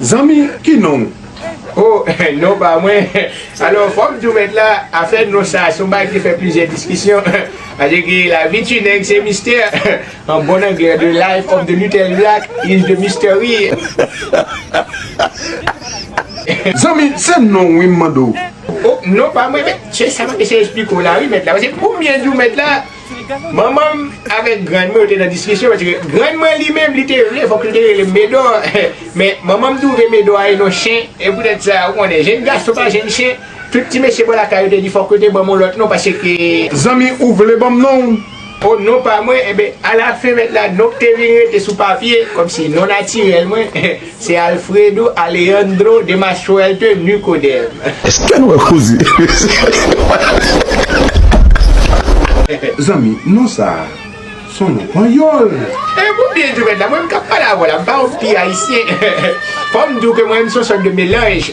Zanmi ki non ou? Oh non pa mwen Alò fò m di w mèt la afè non sa se yon bagay ki fè plizyè diskisyon Paske gen lavi ti nèg se mistè An bon anglè The life of the little Jack is the mystery. Zanmi se non wi m mande w? Oh non pa mwen mèt Se sa m ap eseye esplike w la wi mèt la Paske konbyen di w mèt la Manman m avèk grann mwen yo te nan diskisyon paske grann mwen li menm li te vle fòk li te rele m Medò men manman m twouve Medò a e non Chen e poutèt sa ou konnen jenn gason pa jenn chen tout ti mesye bò lakay yo te di fòk yo te ban m on lòt non paske Zanmi ou vle ban m non ou? On non pa mwen enben alafen mèt la non k te vin rete sou papye kòmsi non natirèl mwen Se Alfredo Alejandro de ma suerte Nicodème. Eske nou wè koze yo. Zanmi non sa son non panyòl. E pou byen di mwen la mwen menm kap pale avèw la m pa yon pi ayisyen fòm diw ke mwen menm son sòt de melanj.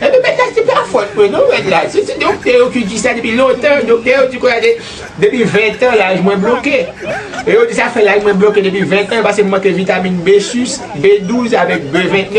Epi bagay se pa fòt mwen non rèd la, se ti doktè yo ki di sa depi lontan, doktè yo di konsa depi 20 tan laj mwen bloke e yo di sa fè laj mwen bloke depi 20 tan pase m manke vitamin B6, B12 avèk B29.